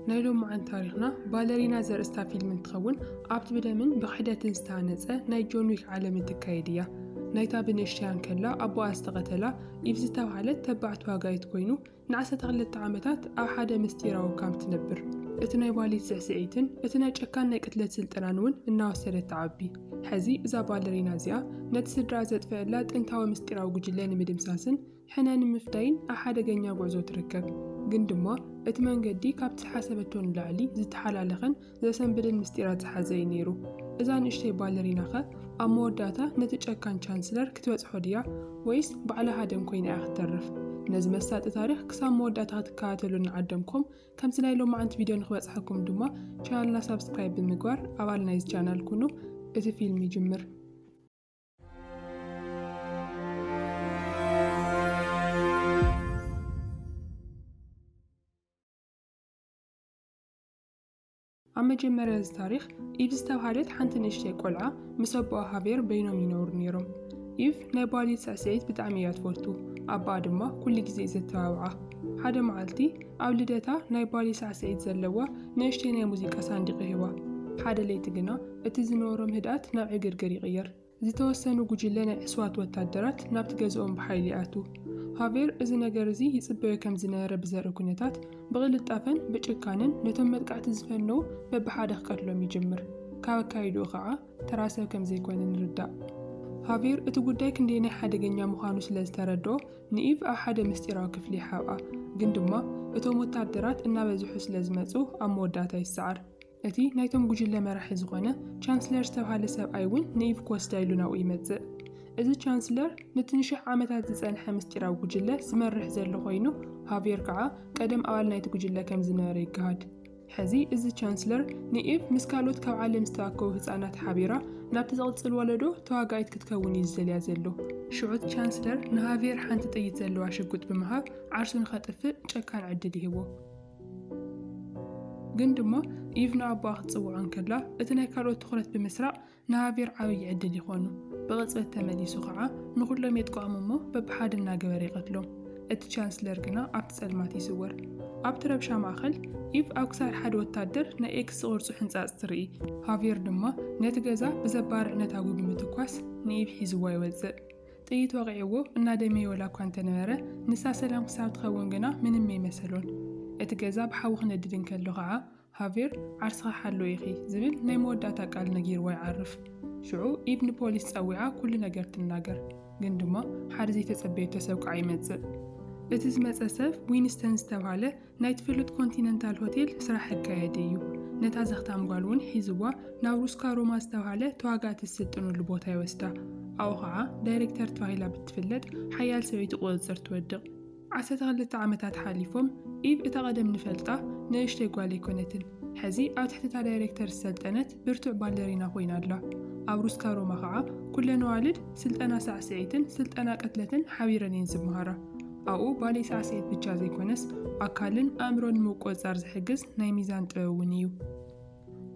ናይ ሎማዓንቲ ታሪኽና ባለሪና ዘርእስታ ፊልም እንትኸውን ኣብቲ ብደምን ብክሕደትን ዝተሃነፀ ናይ ጆን ዊክ ዓለም እትካየድ እያ። ናይታ ብንእሽተያ እንከላ ኣቦኣ ዝተቐተላ ኢቭ ዝተብሃለት ተባዕ ተዋጋኢት ኮይኑ ንዓሰርተ ክልተ ዓመታት ኣብ ሓደ ምስጢራዊ ካምፕ ትነብር። እቲ ናይ ባሊት ስዕስዒትን እቲ ናይ ጨካን ናይ ቅትለት ስልጠናን እውን እናወሰደት ትዓቢ። ሕዚ እዛ ባለሪና እዚኣ ነቲ ስድራኣ ዘጥፈኣላ ጥንታዊ ምስጢራዊ ጉጅለ ንምድምሳስን ሕነ ንምፍዳይን ኣብ ሓደገኛ ጉዕዞ ትርከብ፣ ግን ድማ እቲ መንገዲ ካብቲ ዝሓሰበቶ ንላዕሊ ዝተሓላለኸን ዘሰንብድን ምስጢራት ዝሓዘ እዩ ነይሩ። እዛ ንእሽተይ ባለሪናኸ ኣብ መወዳእታ ነቲ ጨካን ቻንስለር ክትበጽሖ ድያ ወይስ ባዕላ ሃደን ኰይና እያ ክትተርፍ? ነዚ መሳጢ ታሪኽ ክሳብ መወዳእታ ክትከታተሉ ንዓደምኩም፣ ከምቲ ናይ ሎማዓንቲ ቪድዮ ንክበጽሓኩም ድማ ቻናልና ሳብስክራይብ ብምግባር ኣባል ናይዚ ቻናል ኩኑ። እቲ ፊልም ይጅምር። ኣብ መጀመርያ እዚ ታሪኽ ኢቭ ዝተብሃለት ሓንቲ ንእሽተይ ቆልዓ ምስ ኣቦኣ ሃቬር በይኖም ይነብሩ ነይሮም። ኢቭ ናይ ባሊት ስዕስዒት ብጣዕሚ እያ ትፈቱ፣ ኣቦኣ ድማ ኩሉ ግዜ እዩ ዘተባብዓ። ሓደ መዓልቲ ኣብ ልደታ ናይ ባሊ ሳዕስዒት ዘለዋ ንእሽተይ ናይ ሙዚቃ ሳንዲቕ ሂባ። ሓደ ለይቲ ግና እቲ ዝነበሮም ህድኣት ናብ ዕግርግር ይቕየር። ዝተወሰኑ ጉጅለ ናይ ዕሱባት ወታደራት ናብቲ ገዝኦም ብሓይሊ ይኣትዉ። ሃቬር እዚ ነገር እዚ ይጽበዮ ከም ዝነበረ ብዘርኢ ኲነታት፣ ብቕልጣፈን ብጭካነን ነቶም መጥቃዕቲ ዝፈነዉ በብሓደ ክቀትሎም ይጅምር። ካብ ኣካይዳኡ ከኣ ተራ ሰብ ከም ዘይኰነ ንርዳእ። ሃቬር እቲ ጉዳይ ክንደየናይ ሓደገኛ ምዃኑ ስለ ዝተረድኦ፣ ንኢቭ ኣብ ሓደ ምስጢራዊ ክፍሊ ይሓብኣ። ግን ድማ እቶም ወታደራት እናበዝሑ ስለ ዝመጹ ኣብ መወዳእታ ይሰዓር። እቲ ናይቶም ጉጅለ መራሒ ዝኾነ ቻንስለር ዝተብሃለ ሰብኣይ እውን ንኢቭ ኮስዳ ኢሉ ናብኡ ይመጽእ። እዚ ቻንስለር ነቲ ንሽሕ ዓመታት ዝጸንሐ ምስጢራዊ ጉጅለ ዝመርሕ ዘሎ ኮይኑ፣ ሃቭየር ከኣ ቀደም ኣባል ናይቲ ጉጅለ ከም ዝነበረ ይገሃድ። ሕዚ እዚ ቻንስለር ንኢቭ ምስ ካልኦት ካብ ዓለም ዝተኣከቡ ህጻናት ሓቢራ ናብቲ ዝቕጽል ወለዶ ተዋጋኢት ክትከውን እዩ ዝደልያ ዘሎ። ሽዑ እቲ ቻንስለር ንሃቭየር ሓንቲ ጥይት ዘለዋ ሽጉጥ ብምሃብ ዓርሱ ንኸጥፍእ ጨካን ዕድል ይህቦ። ግን ድማ ኢቭ ንኣቦኣ ክትጽውዖ እንከላ እቲ ናይ ካልኦት ትኹረት ብምስራቕ ንሃቬር ዓብዪ ዕድል ይኾኑ። ብቕጽበት ተመሊሱ ኸዓ ንኹሎም የጥቅዖም እሞ በብሓደ እናገበረ ይቐትሎም። እቲ ቻንስለር ግና ኣብቲ ጸልማት ይስወር። ኣብቲ ረብሻ ማእከል ኢቭ ኣብ ክሳድ ሓደ ወታደር ናይ ኤክስ ዝቕርጹ ሕንጻጽ ትርኢ። ሃቬር ድማ ነቲ ገዛ ብዘባርዕ ነታጒ ብምትኳስ ንኢቭ ሒዝዋ ይወጽእ። ጥይት ወቒዕዎ እናደመየ ወላ እኳ እንተነበረ፣ ንሳ ሰላም ክሳብ ትኸውን ግና ምንም ኣይመሰሎን። እቲ ገዛ ብሓዊ ክነድድ እንከሎ ኸዓ፣ ሃቬር፣ ዓርስኺ ሓልው ኢኺ፣ ዝብል ናይ መወዳእታ ቃል ነጊርዋ ይዓርፍ። ሽዑ ኢቭ ንፖሊስ ጸዊዓ ኩሉ ነገር ትናገር። ግን ድማ ሓደ ዘይተጸበየቶ ሰብ ከዓ ይመጽእ። እቲ ዝመጸ ሰብ ዊንስተን ዝተብሃለ ናይቲ ፍሉጥ ኮንቲነንታል ሆቴል ስራሕ ኣካያዲ እዩ። ነታ ዘኽታም ጓል እውን ሒዝዋ ናብ ሩስካ ሮማ ዝተባህለ ተዋጋእቲ ዝስልጥኑሉ ቦታ ይወስዳ። ኣብኡ ኸዓ ዳይሬክተር ተባሂላ ብትፍለጥ ሓያል ሰበይቲ ቁፅፅር ትወድቕ። ዓሰርተ ክልተ ዓመታት ሓሊፎም፣ ኢቭ እታ ቀደም ንፈልጣ ንእሽተይ ጓል ኣይኮነትን። ሕዚ ኣብ ትሕቲ እታ ዳይሬክተር ዝሰልጠነት፣ ብርቱዕ ባለሪና ኮይና ኣላ። ኣብ ሩስካ ሮማ ከኣ ኩለን ኣዋልድ ስልጠና ሳዕስዒትን ስልጠና ቅትለትን ሓቢረን እየን ዝመሃራ። ኣብኡ ባሌ ሳዕስዒት ብቻ ዘይኮነስ ኣካልን ኣእምሮን ንምቁጽጻር ዝሕግዝ ናይ ሚዛን ጥበብ እውን እዩ።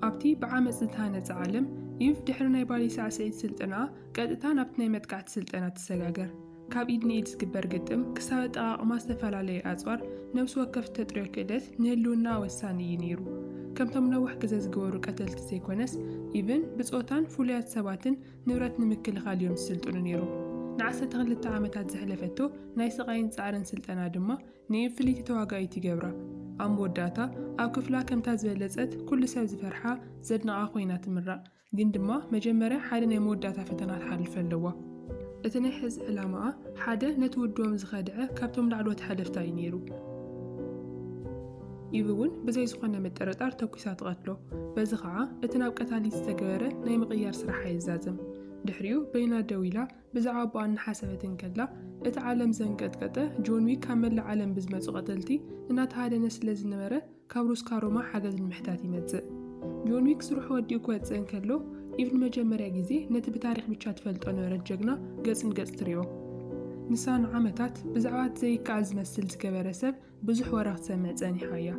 ኣብቲ ብዓመጽ ዝተሃነጸ ዓለም፣ ኢቭ ድሕሪ ናይ ባሌ ሳዕስዒት ስልጠናኣ ቀጥታ ናብቲ ናይ መጥቃዕቲ ስልጠና ትሰጋገር። ካብ ኢድ ንኢድ ዝግበር ግጥም ክሳብ ኣጠቓቕማ ዝተፈላለዩ ኣጽዋር፣ ነብሲ ወከፍ እተጥርዮ ክእለት ንህልውናኣ ወሳኒ እዩ ነይሩ። ከምቶም ነዋሕ ግዘ ዝገበሩ ቀተልቲ ዘይኮነስ፣ ኢቭን ብጾታን ፍሉያት ሰባትን ንብረት ንምክልኻል እዮም ዝስልጥኑ ነይሮም። ንዓሰርተ ክልተ ዓመታት ዘሕለፈቶ ናይ ስቓይን ጻዕርን ስልጠና ድማ ንኢቭ ፍልይቲ ተዋጋኢት ይገብራ። ኣብ መወዳእታ ኣብ ክፍላ ከምታ ዝበለጸት ኩሉ ሰብ ዝፈርሓ ዘድንቓ ኮይና ትምራቕ። ግን ድማ መጀመርያ ሓደ ናይ መወዳእታ ፈተና ትሓልፍ ኣለዋ። እቲ ናይ ሕዚ ዕላማኣ ሓደ ነቲ ውድቦም ዝኸድዐ ካብቶም ላዕለዎት ሓለፍታ እዩ ነይሩ። ኢቭ እውን ብዘይ ዝኾነ ምጥርጣር ተኲሳ ትቐትሎ። በዚ ኸዓ እቲ ናብ ቀታሊት ዝተገበረ ናይ ምቕያር ስራሓ ይዛዘም። ድሕሪኡ በይና ደው ኢላ ብዛዕባ ኣቦኣ እናሓሰበት እንከላ እቲ ዓለም ዘንቀጥቀጠ ጆን ዊክ ካብ መላእ ዓለም ብዝመጹ ቀተልቲ እናተሃደነ ስለዝነበረ ካብ ሩስካ ሮማ ሓገዝ ንምሕታት ይመጽእ። ጆን ዊክ ስርሑ ወዲኡ ክወጽእ እንከሎ፣ ኢቭ ንመጀመርያ ግዜ ነቲ ብታሪኽ ብቻ ትፈልጦ ነበረት ጀግና ገጽ ንገጽ ትሪኦ። ንሳ ንዓመታት ብዛዕባ እቲ ዘይከኣል ዝመስል ዝገበረ ሰብ ብዙሕ ወረ ክትሰምዕ ጸኒሓ እያ።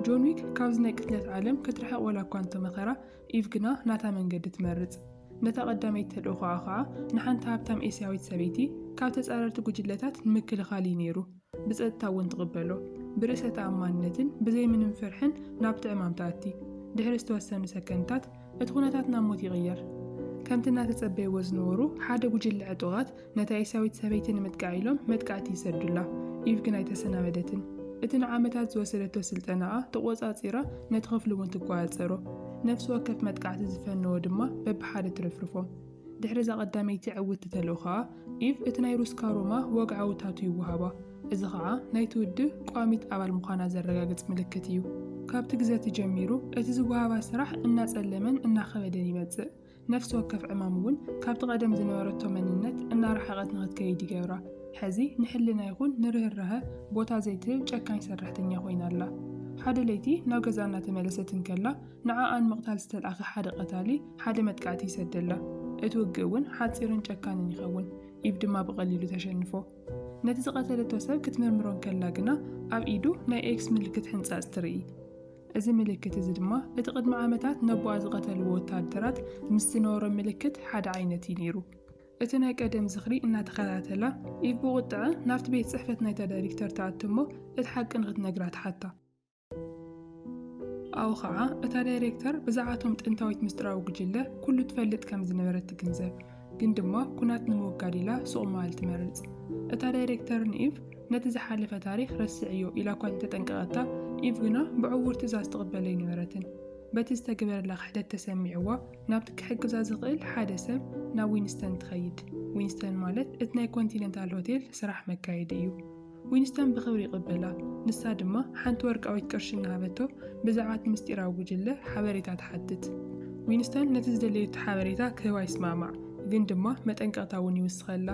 ጆን ዊክ ካብዚ ናይ ቅትለት ዓለም ክትርሕቕ ወላ እኳ እንተመኸራ፣ ኢቭ ግና ናታ መንገዲ ትመርጽ። ነታ ቀዳመይቲ ተልእኾኣ ከኣ ንሓንቲ ሃብታም ኤስያዊት ሰበይቲ ካብ ተጻረርቲ ጉጅለታት ንምክልኻል እዩ ነይሩ። ብጸጥታ እውን ትቕበሎ። ብርእሰ ተኣማንነትን ብዘይ ምንም ፍርሕን ናብቲ ዕማም ትኣቲ። ድሕሪ ዝተወሰኑ ሰከንድታት፣ እቲ ኵነታት ናብ ሞት ይቕየር። ከምቲ እናተጸበይዎ ዝነበሩ፣ ሓደ ጕጅለ ዕጡቓት ነታ ኤሳዊት ሰበይቲ ንምጥቃዕ ኢሎም መጥቃዕቲ ይሰዱላ። ኢቭ ግን ኣይተሰናበደትን። እቲ ንዓመታት ዝወሰደቶ ስልጠናኣ ተቖጻጺራ ነቲ ክፍሊ እውን ትቈጻጸሮ። ነፍሲ ወከፍ መጥቃዕቲ ዝፈነዎ ድማ በብሓደ ትርፍርፎም። ድሕሪ እዛ ቀዳመይቲ ዕውትቲ ተልእኾ ከኣ ኢቭ እቲ ናይ ሩስካ ሮማ ወግዓዊ ታቱ ይወሃባ፣ እዚ ኸኣ ናይቲ ውድብ ቋሚት ኣባል ምዃና ዘረጋግጽ ምልክት እዩ። ካብቲ ግዘቲ ጀሚሩ እቲ ዝወሃባ ስራሕ እናጸለመን እናኸበደን ይመጽእ፣ ነፍሲ ወከፍ ዕማም እውን ካብቲ ቀደም ዝነበረቶ መንነት እናረሓቐት ንኽትከይድ ይገብራ፣ ሕዚ ንሕልና ይኹን ንርህራሀ ቦታ ዘይትህብ ጨካኝ ሰራሕተኛ ኮይና ኣላ። ሓደ ለይቲ ናብ ገዝኣ እናተመለሰት እንከላ፣ ንዓኣን ምቕታል ዝተልኣኸ ሓደ ቐታሊ ሓደ መጥቃዕቲ ይሰደላ። እቲ ውግእ እውን ሓጺርን ጨካንን ይኸውን፣ ኢቭ ድማ ብቐሊሉ ተሸንፎ። ነቲ ዝቐተለቶ ሰብ ክትምርምሮ እንከላ ግና ኣብ ኢዱ ናይ ኤክስ ምልክት ሕንጻጽ ትርኢ። እዚ ምልክት እዚ ድማ እቲ ቅድሚ ዓመታት ነቦኣ ዝቐተልዎ ወተሃደራት ምስ ዝነበሮም ምልክት ሓደ ዓይነት እዩ ነይሩ። እቲ ናይ ቀደም ዝኽሪ እናተኸታተላ፣ ኢቭ ብቑጥዐ ናብቲ ቤት ጽሕፈት ናይታ ዳይሪክተር ትኣቱ እሞ እቲ ሓቂ ንኽትነግራ ትሓታ። ኣብኡ ኸዓ እታ ዳይሬክተር ብዛዕባ እቶም ጥንታዊት ምስጢራዊ ጉጅለ ኩሉ ትፈልጥ ከም ዝነበረት ትግንዘብ። ግን ድማ ኩናት ንምውጋድ ኢላ ሱቕ ምባል ትመርጽ። እታ ዳይሬክተር ንኢቭ ነቲ ዝሓለፈ ታሪኽ ረስዕዮ ኢላ እኳ እንተጠንቀቐታ፣ ኢቭ ግና ብዕዉር ትእዛዝ ትቕበል ኣይነበረትን። በቲ ዝተገበረላ ክሕደት ተሰሚዕዋ ናብቲ ክሕግዛ ዝኽእል ሓደ ሰብ ናብ ዊንስተን ትኸይድ። ዊንስተን ማለት እቲ ናይ ኮንቲነንታል ሆቴል ስራሕ መካየዲ እዩ። ዊንስተን ብኽብሪ ይቕበላ፣ ንሳ ድማ ሓንቲ ወርቃዊት ቅርሺ እናሃበቶ ብዛዕባ እቲ ምስጢራዊ ጉጅለ ሓበሬታ ትሓትት። ዊንስተን ነቲ ዝደለየቶ ሓበሬታ ክህባ ይስማዕማዕ፣ ግን ድማ መጠንቀቕታ እውን ይውስኸላ።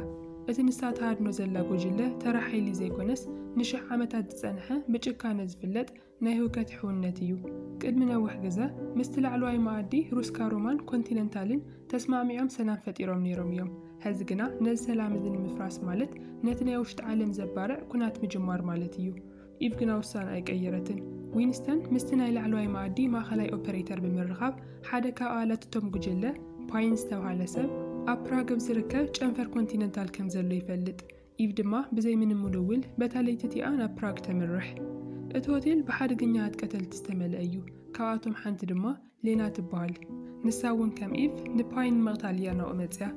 እቲ ንሳ ትሃድኖ ዘላ ጉጅለ ተራ ሓይሊ ዘይኰነስ፣ ንሽሕ ዓመታት ዝጸንሐ ብጭካነ ዝፍለጥ ናይ ህውከት ሕውነት እዩ። ቅድሚ ነውሕ ግዘ ምስቲ ላዕለዋይ መኣዲ ሩስካ ሮማን ኮንቲነንታልን ተስማዕሚዖም ሰላም ፈጢሮም ነይሮም እዮም። ሐዚ ግና ነዚ ሰላም እዚ ንምፍራስ ማለት ነቲ ናይ ውሽጢ ዓለም ዘባርዕ ኩናት ምጅማር ማለት እዩ። ኢቭ ግና ውሳንኣ ኣይቀየረትን። ዊንስተን ምስቲ ናይ ላዕለዋይ መኣዲ ማእኸላይ ኦፐሬተር ብምርኻብ ሓደ ካብ ኣባላት እቶም ጉጅለ ፓይን ዝተብሃለ ሰብ ኣብ ፕራግ ኣብ ዝርከብ ጨንፈር ኮንቲነንታል ከምዘሎ ይፈልጥ። ኢቭ ድማ ብዘይ ምንም ውልውል በታ ለይቲ እቲኣ ናብ ፕራግ ተምርሕ። እቲ ሆቴል ብሓደገኛታት ቀተልቲ ዝተመልአ እዩ፣ ካብኣቶም ሓንቲ ድማ ሌና ትበሃል። ንሳ እውን ከም ኢቭ ንፓይን ንምቕታል እያ ናብኡ መጺኣ።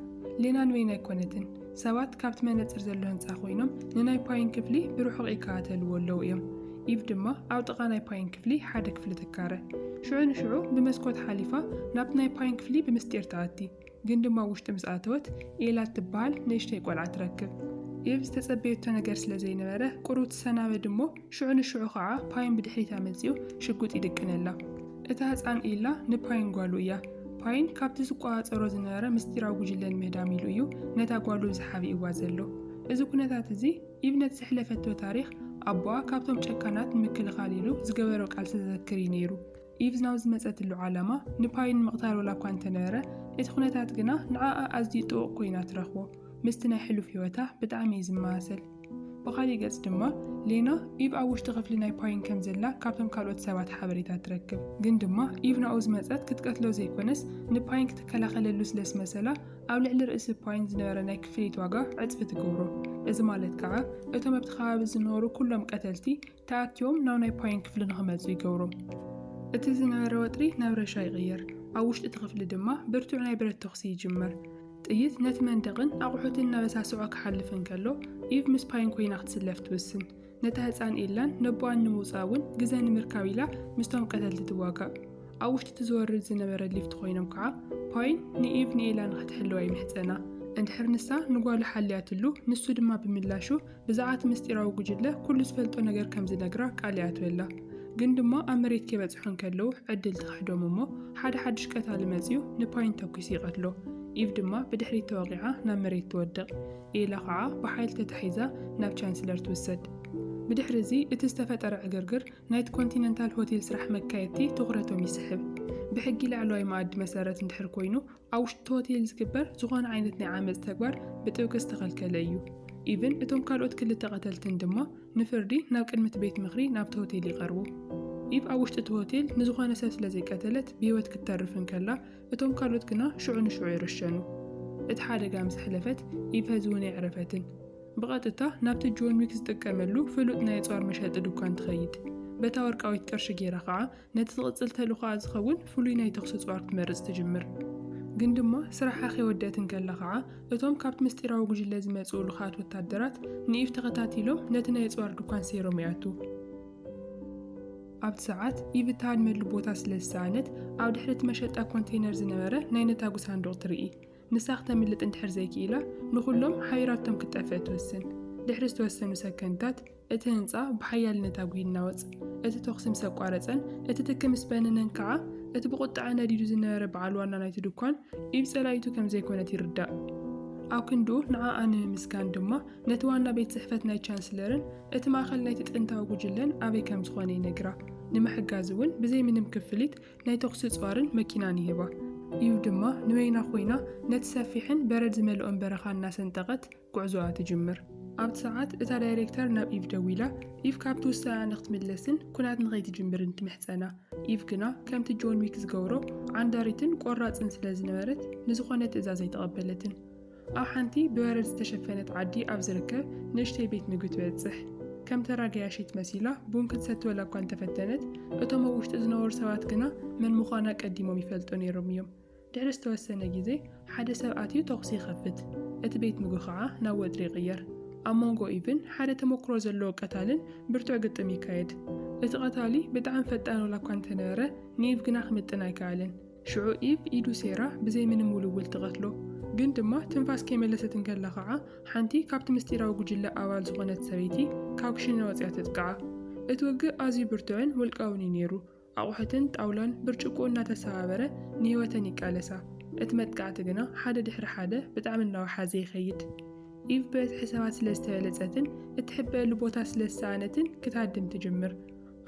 ሌና ንወይን ኣይኰነትን። ሰባት ካብቲ መነጽር ዘሎ ህንጻ ኰይኖም ንናይ ፓይን ክፍሊ ብርሑቕ ይከታተልዎ ኣለዉ እዮም። ኢቭ ድማ ኣብ ጥቓ ናይ ፓይን ክፍሊ ሓደ ክፍሊ ትካረ። ሽዑ ንሽዑ ብመስኮት ሓሊፋ ናብቲ ናይ ፓይን ክፍሊ ብምስጢር ትኣቲ። ግን ድማ ኣብ ውሽጢ ምስ ኣተወት ኤላ እትበሃል ንእሽተይ ቆልዓ ትረክብ። ኤቭ ዝተጸበየቶ ነገር ስለ ዘይነበረ ቁሩብ ትሰናበድ እሞ ሽዑ ንሽዑ ኸኣ ፓይን ብድሕሪታ መጺኡ ሽጉጥ ይድቅነላ። እታ ህጻን ኤላ ንፓይን ጓሉ እያ። ፓይን ካብቲ ዝቆጻጸሮ ዝነበረ ምስጢራዊ ጉጅለ ንምህዳም ኢሉ እዩ ነታ ጓሉ እዚ ሓቢእዋ ዘሎ። እዚ ኩነታት እዚ ኤቭ ነቲ ዘሕለፈቶ ታሪኽ ኣቦኣ ካብቶም ጨካናት ንምክልኻል ኢሉ ዝገበሮ ቃልሲ ዘዘክር እዩ ነይሩ። ኢቭ ናብ ዝመጸትሉ ዓላማ ንፓይ ንምቕታል ዋላ እኳ እንተነበረ፣ እቲ ዅነታት ግና ንዓኣ ኣዝዩ ጥቡቕ ኰይና ትረኽቦ። ምስቲ ናይ ሕሉፍ ህይወታ ብጣዕሚ እዩ ዝመሳሰል። ብኻሊእ ገጽ ድማ፣ ሌና፣ ኢቭ ኣብ ውሽጢ ክፍሊ ናይ ፓይን ከም ዘላ ካብቶም ካልኦት ሰባት ሓበሬታ ትረክብ። ግን ድማ ኢቭ ናብኡ ዝመጸት ክትቀትሎ ዘይኰነስ ንፓይን ክትከላኸለሉ ስለ ዝመሰላ፣ ኣብ ልዕሊ ርእሲ ፓይን ዝነበረ ናይ ክፍሊት ዋጋ ዕጽፊ ትገብሮ። እዚ ማለት ከኣ እቶም ኣብቲ ከባቢ ዝነበሩ ኵሎም ቀተልቲ ተኣኪቦም ናብ ናይ ፓይን ክፍሊ ንኽመጹ ይገብሩ። እቲ ዝነበረ ወጥሪ ናብ ረብሻ ይቕየር፣ ኣብ ውሽጢ እቲ ክፍሊ ድማ ብርቱዕ ናይ ብረት ተዅሲ ይጅምር። ጥይት ነቲ መንደቕን ኣቑሑትን እናበሳስዖ ክሓልፍ እንከሎ፣ ኢቭ ምስ ፓይን ኰይና ክትስለፍ ትውስን። ነታ ህጻን ኤላን ነቦኣን ንምውጻእ እውን ግዘ ንምርካብ ኢላ ምስቶም ቀተልቲ ትዋጋእ። ኣብ ውሽጢ እቲ ዝወርድ ዝነበረ ሊፍት ኰይኖም ከዓ ፓይን ንኢቭ ንኤላ ንኽትሕልዋ ይምሕጸና። እንድሕር ንሳ ንጓሉ ሓልያትሉ፣ ንሱ ድማ ብምላሹ እዛ ኣቲ ምስጢራዊ ጉጅለ ኩሉ ዝፈልጦ ነገር ከም ዝነግራ ቃል ይኣትወላ ግን ድማ ኣብ መሬት ከይበጽሑ እንከለዉ ዕድል ትኽሕዶም እሞ ሓደ ሓድሽ ቀታሊ መጺኡ ንፓይን ተኲሱ ይቐትሎ ኢቭ ድማ ብድሕሪት ተወቒዓ ናብ መሬት ትወድቕ ኤላ ኸዓ ብሓይሊ ተታሒዛ ናብ ቻንስለር ትውሰድ ብድሕሪ እዚ እቲ ዝተፈጠረ ዕግርግር ናይቲ ኮንቲነንታል ሆቴል ስራሕ መካየድቲ ትኹረቶም ይስሕብ ብሕጊ ላዕለዋይ መኣዲ መሰረት እንድሕር ኮይኑ ኣብ ውሽጢ ሆቴል ዝግበር ዝኾነ ዓይነት ናይ ዓመፅ ተግባር ብጥብቂ ዝተኸልከለ እዩ። ኢቭን እቶም ካልኦት ክልተ ቀተልትን ድማ ንፍርዲ ናብ ቅድሚ እቲ ቤት ምኽሪ ናብቲ ሆቴል ይቐርቡ። ኢቭ ኣብ ውሽጢ እቲ ሆቴል ንዝኾነ ሰብ ስለዘይቀተለት ብህይወት ክትተርፍ እንከላ እቶም ካልኦት ግና ሽዑ ንሽዑ ይረሸኑ። እቲ ሓደጋ ምስ ሕለፈት ኢቭ ሀዚ እውን ኣይዕረፈትን። ብቐጥታ ናብቲ ጆን ዊክ ዝጥቀመሉ ፍሉጥ ናይ ኣፅዋር መሸጢ ድኳን ትኸይድ። በታ ወርቃዊት ቅርሺ ገይራ ከዓ ነቲ ዝቕጽል ተልእኾኣ ዝኸውን ፍሉይ ናይ ተዅሲ ጽዋር ክትመርጽ ትጅምር። ግን ድማ ስራሓ ከይወደእት እንከላ ኸኣ፣ እቶም ካብቲ ምስጢራዊ ጕጅለ ዝመጽኡ ልኡኻት ወተሃደራት ንኢቭ ተኸታቲሎም ነቲ ናይ ኣጽዋር ድኳን ሰይሮም ይኣትዉ። ኣብቲ ሰዓት፣ ኢቭ እትሃድመሉ ቦታ ስለ ዝሰኣነት፣ ኣብ ድሕሪ እቲ መሸጣ ኮንተይነር ዝነበረ ናይ ነታጕ ሳንዱቕ ትርኢ። ንሳ ክተምልጥ እንድሕር ዘይክኢላ፣ ንዅሎም ሓቢራቶም ክትጠፍእ ትውስን። ድሕሪ ዝተወሰኑ ሰከንድታት፣ እቲ ህንጻ ብሓያል ነታጒ ይናወጽ፣ እቲ ተዅሲ ምስ ኣቋረጸን እቲ ትኪ ምስ በነነን ከኣ፣ እቲ ብቝጥዐ ነዲዱ ዝነበረ በዓል ዋና ናይቲ ድኳን፣ ኢድ ጸላኢቱ ከም ዘይኰነት ይርዳእ። ኣብ ክንድኡ ንዓኣ ንምምስጋን ድማ፣ ነቲ ዋና ቤት ጽሕፈት ናይ ቻንስለርን እቲ ማእከል ናይቲ ጥንታዊ ጕጅለን ኣበይ ከም ዝዀነ ይነግራ። ንምሕጋዝ እውን ብዘይ ምንም ክፍሊት ናይ ተዅሲ ጸዋርን መኪናን ይህባ። ኢቭ ድማ ንበይና ኰይና ነቲ ሰፊሕን በረድ ዝመልኦን በረኻ እናሰንጠቐት፣ ጉዕዞኣ ትጅምር። ኣብቲ ሰዓት እታ ዳይሬክተር ናብ ኢቭ ደዊላ ኢቭ ካብቲ ውሳነኣ ንኽትምለስን ኲናት ንኸይትጅምርን ትምሕጸና። ኢቭ ግና ከምቲ ጆን ዊክ ዝገብሮ ዓንዳሪትን ቆራጽን ስለ ዝነበረት ንዝዀነ ትእዛዝ ኣይተቐበለትን። ኣብ ሓንቲ ብበረድ ዝተሸፈነት ዓዲ ኣብ ዝርከብ ንእሽተይ ቤት ምግቢ ትበጽሕ። ከም ተራ ገያሺት መሲላ ቡን ክትሰቲ ወላ እኳ እንተፈተነት፣ እቶም ኣብ ውሽጢ ዝነበሩ ሰባት ግና መን ምዃና ቀዲሞም ይፈልጡ ነይሮም እዮም። ድሕሪ ዝተወሰነ ግዜ ሓደ ሰብ ኣትዩ ተዅሲ ይኸፍት፣ እቲ ቤት ምግቢ ኸኣ ናብ ወጥሪ ይቕየር። ኣብ መንጎ ኢቭን ሓደ ተመኵሮ ዘለዎ ቀታልን ብርቱዕ ግጥም ይካየድ። እቲ ቐታሊ ብጣዕሚ ፈጣን ዋላ እኳ እንተ ነበረ፣ ንኢቭ ግና ክምጥን ኣይከኣለን። ሽዑ ኢቭ ኢዱ ሴራ ብዘይ ምንም ውልውል ትቐትሎ። ግን ድማ ትንፋስ ከይመለሰት እንከላ ኸኣ ሓንቲ ካብቲ ምስጢራዊ ጕጅለ ኣባል ዝዀነት ሰበይቲ ካብ ክሽነ ወጺኣ ተጥቅዓ። እቲ ውግእ ኣዝዩ ብርቱዕን ውልቃውን ኢዩ ነይሩ። ኣቑሑትን ጣውላን ብርጭቆ እናተሰባበረ ንህይወተን ይቃለሳ። እቲ መጥቃዕቲ ግና ሓደ ድሕሪ ሓደ ብጣዕሚ እናወሓዘ ይኸይድ። ኢቭ ብበዝሒ ሰባት ስለ ዝተበለጸትን እትሕበእሉ ቦታ ስለ ዝሰኣነትን ክትሃድም ትጅምር።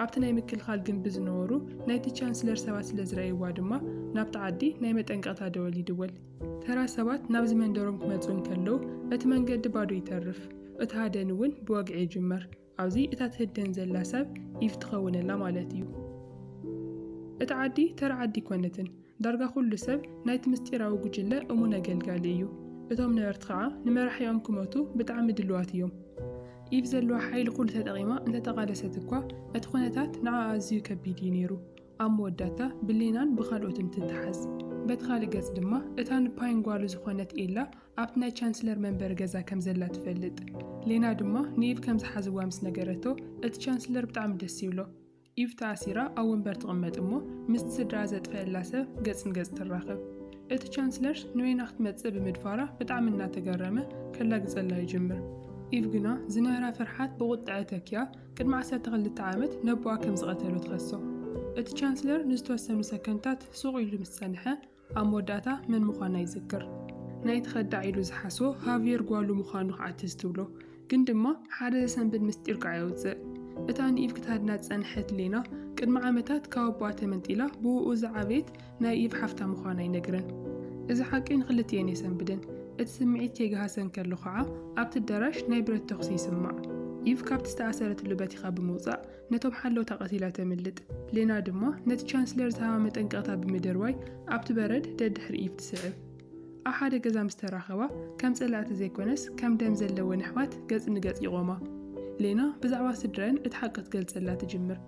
ኣብቲ ናይ ምክልኻል ግምቢ ዝነበሩ ናይቲ ቻንስለር ሰባት ስለ ዝረእይዋ ድማ ናብቲ ዓዲ ናይ መጠንቀቕታ ደወል ይድወል። ተራ ሰባት ናብዚ መንደሮም ክመጹ እንከለዉ እቲ መንገዲ ባዶ ይተርፍ። እቲ ሃደን እውን ብወግዒ ይጅመር። ኣብዚ እታ ትህደን ዘላ ሰብ ኢቭ ትኸውነላ ማለት እዩ። እታ ዓዲ ተራ ዓዲ ኣይኮነትን፣ ዳርጋ ኩሉ ሰብ ናይቲ ምስጢራዊ ጉጅለ እሙን ኣገልጋሊ እዩ። እቶም ነበርቲ ኸዓ ንመራሒኦም ክመቱ ብጣዕሚ ድሉዋት እዮም። ኢቭ ዘለዋ ሓይሊ ኩሉ ተጠቒማ እንተተቓለሰት እኳ እቲ ኩነታት ንዓኣ ኣዝዩ ከቢድ እዩ ነይሩ። ኣብ መወዳእታ ብሌናን ብኻልኦትን ትተሓዝ። በቲ ኻሊእ ገፅ ድማ እታ ንፓይን ጓሉ ዝኾነት ኤላ ኣብቲ ናይ ቻንስለር መንበሪ ገዛ ከም ዘላ ትፈልጥ። ሌና ድማ ንኢቭ ከም ዝሓዝዋ ምስ ነገረቶ፣ እቲ ቻንስለር ብጣዕሚ ደስ ይብሎ። ኢቭ ተኣሲራ ኣብ ወንበር ትቕመጥ እሞ ምስቲ ስድራኣ ዘጥፈኣላ ሰብ ገጽ ንገጽ ትራኸብ። እቲ ቻንስለር ንዌና ክትመጽእ ብምድፋራ ብጣዕሚ እናተገረመ ከላግጸላ ይጅምር። ኢቭ ግና ዝነበራ ፍርሓት ብቑጥዐ ተኪኣ ቅድሚ ዓሰርተ ክልተ ዓመት ነቦኣ ከም ዝቐተሎ ትኸሶ። እቲ ቻንስለር ንዝተወሰኑ ሰከንድታት ሱቕ ኢሉ ምስ ጸንሐ፣ ኣብ መወዳእታ መን ምዃና ይዝክር። ናይቲ ከዳዕ ኢሉ ዝሓስቦ ሃቭየር ጓሉ ምዃኑ ከኣ ትዝ ትብሎ። ግን ድማ ሓደ ዘሰንብድ ምስጢር ከኣ የውጽእ። እታ ንኢቭ ክትሃድና ዝጸንሐት ሌና፣ ቅድሚ ዓመታት ካብ ኣቦኣ ተመንጢላ ብእኡ ዝዓበየት ናይ ኢቭ ሓፍታ ምዃና ይነግረን። እዚ ሓቂ ንኽልቲኤን የሰንብደን። እቲ ስምዒት ከይገሃሰ እንከሎ ከኣ ኣብቲ ኣዳራሽ ናይ ብረት ተኹሲ ይስማዕ። ኢቭ ካብቲ ዝተኣሰረትሉ በቲኻ ብምውጻእ ነቶም ሓለውታ ቀቲላ ተምልጥ። ሌና ድማ ነቲ ቻንስለር ዝሃባ መጠንቀቕታ ብምድርባይ ኣብቲ በረድ ደድሕሪ ኢቭ ትስዕብ። ኣብ ሓደ ገዛ ምስ ተራኸባ፣ ከም ጸላእቲ ዘይኰነስ ከም ደም ዘለወን ኣሕዋት ገጽ ንገጽ ይቖማ። ሌና ብዛዕባ ስድራኣን እቲ ሓቂ ክትገልጸላ ትጅምር።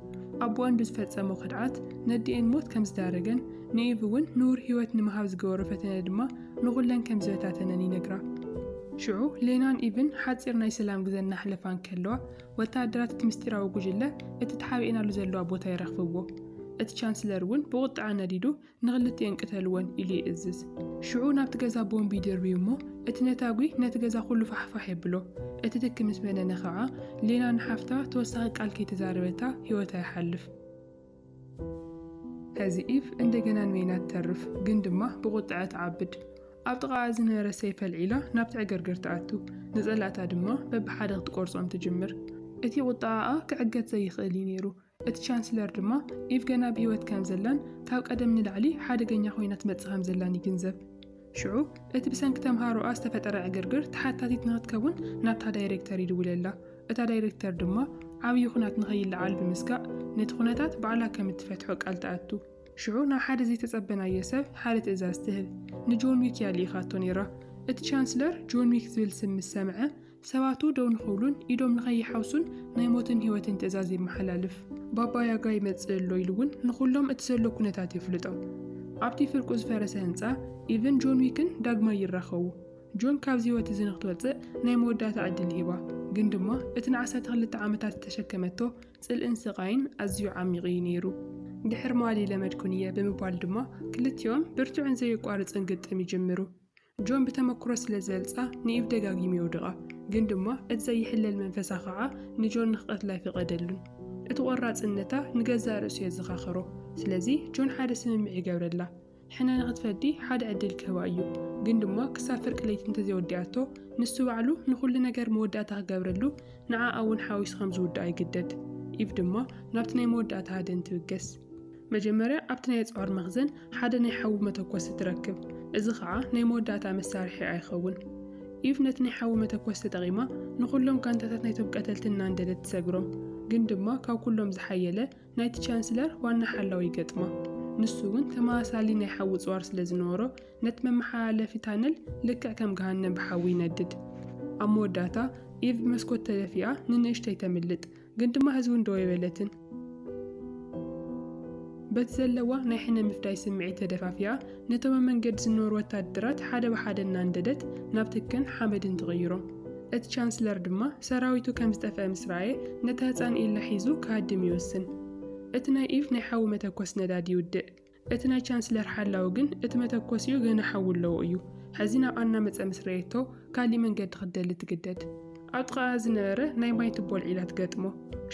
ኣቦኣን ብዝፈጸሞ ክድዓት ነዲኤን ሞት ከም ዝዳረገን ንኢቭ እውን ንቡር ህይወት ንምሃብ ዝገበሮ ፈተነ ድማ ንዅለን ከም ዝበታተነን ይነግራ። ሽዑ ሌናን ኢቭን ሓጺር ናይ ሰላም ግዘ እናሕለፋ እንከለዋ፣ ወተሃደራት እቲ ምስጢራዊ ጕጅለ እቲ ተሓቢኤናሉ ዘለዋ ቦታ ይረኽብዎ። እቲ ቻንስለር እውን ብቝጥዐ ነዲዱ፣ ንኽልቲኤን ቅተልወን! ኢሉ ይእዝዝ። ሽዑ ናብቲ ገዛ ቦምብ ይድርብዩ እሞ፣ እቲ ነታጒ ነቲ ገዛ ዅሉ ፋሕፋሕ የብሎ። እቲ ትኪ ምስ በነነ ኸኣ፣ ሌና ንሓፍታ ተወሳኺ ቃል ከይተዛረበታ ህይወታ ይሓልፍ። ሐዚ ዒፍ እንደገና ንበይና ትተርፍ፣ ግን ድማ ብቝጥዐ ትዓብድ። ኣብ ጥቓኣ ዝነበረ ሰይፍ ኣልዒላ ናብቲ ዕግርግር ትኣቱ፣ ንጸላእታ ድማ በብሓደ ክትቈርጾም ትጅምር። እቲ ቝጥዓኣ ክዕገት ዘይክእል እዩ ነይሩ፣ እቲ ቻንስለር ድማ ዒፍ ገና ብህይወት ከም ዘላን ካብ ቀደም ንላዕሊ ሓደገኛ ኰይና ትመጽእ ከም ዘላን ይግንዘብ። ሽዑ እቲ ብሰንኪ ተምሃሮኣ ዝተፈጠረ ዕግርግር ተሓታቲት ንኽትከውን ናብታ ዳይሬክተር ይድውለላ። እታ ዳይሬክተር ድማ ዓብዪ ኹናት ንኸይለዓል ብምስጋእ ነቲ ኹነታት ባዕላ ከም እትፈትሖ ቃል ትኣቱ። ሽዑ ናብ ሓደ ዘይተጸበናዮ ሰብ ሓደ ትእዛዝ ትህብ። ንጆን ዊክ እያ ልኢኻቶ ነይራ። እቲ ቻንስለር ጆን ዊክ ዝብል ስም ምስ ሰምዐ ሰባቱ ደው ንኽብሉን ኢዶም ንኸይሓውሱን ናይ ሞትን ህይወትን ትእዛዝ የመሓላልፍ። ባባ ያጋ ይመጽእ ኣሎ ኢሉ እውን ንኹሎም እቲ ዘሎ ኩነታት የፍልጦም። ኣብቲ ፍርቁ ዝፈረሰ ህንጻ ኢቭን ጆን ዊክን ዳግማይ ይራኸቡ። ጆን ካብዚ ህይወት እዚ ንክትወጽእ ናይ መወዳእታ ዕድል ይህባ፣ ግን ድማ እቲ ንዓሰርተ ክልተ ዓመታት ዝተሸከመቶ ጽልእን ስቓይን ኣዝዩ ዓሚቕ እዩ ነይሩ። ድሕሪ መዋሊ ለመድኩን እየ ብምባል ድማ ክልቲኦም ብርቱዕን ዘየቋርጽን ግጥም ይጅምሩ። ጆን ብተመክሮ ስለ ዘልጻ ንኢቭ ደጋጊሙ የውድቓ፣ ግን ድማ እቲ ዘይሕለል መንፈሳ ኸኣ ንጆን ንኽቐትላ ኣይፈቐደሉን። እቲ ቖራጽነታ ንገዛእ ርእሱ የዘኻኸሮ። ስለዚ ጆን ሓደ ስምምዕ ይገብረላ። ሕነ ንኽትፈዲ ሓደ ዕድል ክህባ እዩ፣ ግን ድማ ክሳብ ፍርቂ ለይቲ እንተ ዘይወዲኣቶ ንሱ ባዕሉ ንዅሉ ነገር መወዳእታ ክገብረሉ ንዓኣ'ውን ሓዊሱ ከም ዝውድኣ ይግደድ። ኢቭ ድማ ናብቲ ናይ መወዳእታ ሃደን ትብገስ። መጀመርያ ኣብቲ ናይ ኣጽዋር መኽዘን ሓደ ናይ ሓዊ መተኮሲ ትረክብ፣ እዚ ኸኣ ናይ መወዳእታ መሳርሒ ኣይኸውን። ኢቭ ነቲ ናይ ሓዊ መተኮሲ ተጠቒማ ንኹሎም ጋንታታት ናይቶም ቀተልቲ እናንደደት ትሰግሮም፣ ግን ድማ ካብ ኩሎም ዝሓየለ ናይቲ ቻንስለር ዋና ሓላዊ ይገጥማ። ንሱ እውን ተመሳሳሊ ናይ ሓዊ ጽዋር ስለ ዝነበሮ ነቲ መመሓላለፊ ታነል ልክዕ ከም ገሃነም ብሓዊ ይነድድ። ኣብ መወዳእታ ኢቭ ብመስኮት ተደፊኣ ንንእሽተይ ተምልጥ፣ ግን ድማ ህዝውን ደው የበለትን። በቲ ዘለዋ ናይ ሕነ ምፍዳይ ስምዒት ተደፋፊኣ ነቶም ኣብ መንገዲ ዝነበሩ ወታደራት ሓደ ብሓደ እናንደደት ናብ ትክን ሓመድን ትቕይሮ። እቲ ቻንስለር ድማ ሰራዊቱ ከም ዝጠፍአ ምስ ረኣየ ነታ ህጻን ኢላ ሒዙ ክሃድም ይወስን። እቲ ናይ ኢቭ ናይ ሓዊ መተኮሲ ነዳዲ ይውድእ። እቲ ናይ ቻንስለር ሓላዊ ግን እቲ መተኮሲኡ ገና ሓዊ ኣለዎ እዩ። ሕዚ ናብኣ እናመጸ ምስ ረኣየቶ ካሊእ መንገዲ ክትደሊ ትግደድ። ኣብ ጥቓኣ ዝነበረ ናይ ማይ ቱቦ ኣልዒላ ትገጥሞ።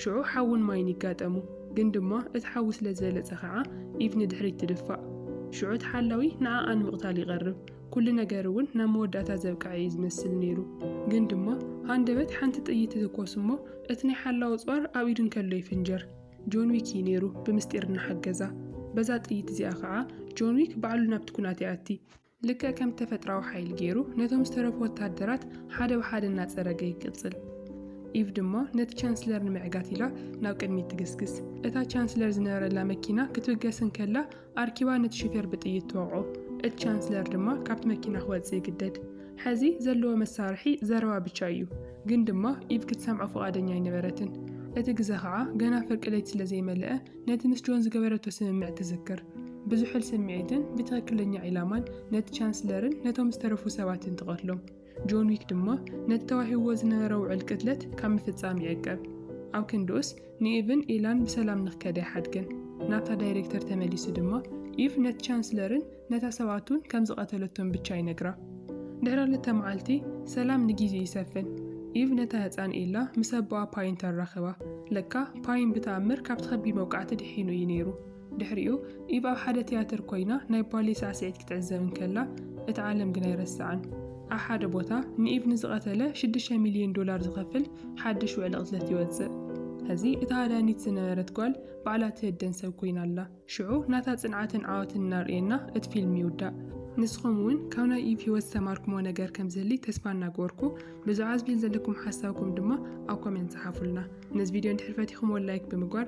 ሽዑ ሓውን ማይን ይጋጠሙ። ግን ድማ እቲ ሓዊ ስለ ዝበለጸ ከኣ ኢቭ ንድሕሪት ትድፋእ። ሽዑ እቲ ሓላዊ ንዓኣ ንምቕታል ይቐርብ። ኩሉ ነገር እውን ናብ መወዳእታ ዘብቅዐ እዩ ዝመስል ነይሩ። ግን ድማ ሃንደበት ሓንቲ ጥይት ትትኮስ እሞ እቲ ናይ ሓላዊ ኣጽዋር ኣብ ኢዱ እንከሎ ይፍንጀር። ጆን ዊክ እዩ ነይሩ ብምስጢር እናሓገዛ። በዛ ጥይት እዚኣ ኸዓ ጆን ዊክ ባዕሉ ናብቲ ኩናት ይኣቲ። ልክዕ ከም ተፈጥራዊ ሓይሊ ገይሩ ነቶም ዝተረፉ ወታሃደራት ሓደ ብሓደ እናፀረገ ይቅፅል። ኢቭ ድማ ነቲ ቻንስለር ንምዕጋት ኢላ ናብ ቅድሚት ትግስግስ። እታ ቻንስለር ዝነበረላ መኪና ክትብገስ እንከላ ኣርኪባ ነቲ ሹፌር ብጥይት ትወቕዖ። እቲ ቻንስለር ድማ ካብቲ መኪና ክወጽእ ይግደድ። ሐዚ ዘለዎ መሳርሒ ዘረባ ብቻ እዩ። ግን ድማ ኢቭ ክትሰምዖ ፍቓደኛ ኣይነበረትን። እቲ ግዘ ኸዓ ገና ፍርቂ ለይቲ ስለ ዘይመለኣ ነቲ ምስ ጆን ዝገበረቶ ስምምዕ ትዝክር። ብዝሑል ስምዒትን ብትኽክለኛ ዒላማን ነቲ ቻንስለርን ነቶም ዝተረፉ ሰባትን ትቐትሎም። ጆን ዊክ ድማ ነቲ ተዋሂብዎ ዝነበረ ውዕል ቅትለት ካብ ምፍጻም ይዕቀብ። ኣብ ክንድኡስ ንኢቭን ኢላን ብሰላም ንክከዳ ይሓድገን። ናብታ ዳይሬክተር ተመሊሱ ድማ ኢቭ ነቲ ቻንስለርን ነታ ሰብኣቱን ከም ዝቐተለቶም ብቻ ይነግራ። ድሕሪ ክልተ መዓልቲ ሰላም ንጊዜ ይሰፍን። ኢቭ ነታ ህጻን ኢላ ምስ ኣቦኣ ፓይን ተራኽባ። ለካ ፓይን ብተኣምር ካብቲ ከቢድ መውቃዕቲ ድሒኑ እዩ ነይሩ። ድሕሪኡ፣ ኢቭ ኣብ ሓደ ትያትር ኰይና ናይ ባሌ ሳዕስዒት ክትዕዘብ እንከላ፣ እታ ዓለም ግን ኣይረስዓን። ኣብ ሓደ ቦታ፣ ንኢቭ ንዝቐተለ ሽዱሽተ ሚልዮን ዶላር ዝኸፍል ሓድሽ ውዕሊ ቅትለት ይወጽእ። ሕዚ፣ እታ ሃዳኒት ዝነበረት ጓል ባዕላ ትህደን ሰብ ኰይና ኣላ። ሽዑ፣ ናታ ጽንዓትን ዓወትን እናርእየና እቲ ፊልም ይውዳእ። ንስኹም እውን ካብ ናይ ኢቭ ህይወት ዝተማሃርኩምዎ ነገር ከም ዝህሊ ተስፋ እናገበርኩ፣ ብዛዕባ እዚ ፊልም ዘለኩም ሓሳብኩም ድማ ኣብ ኮሜንት ጽሓፉልና። ነዚ ቪድዮ እንድሕር ፈቲኹምዎ ላይክ ብምግባር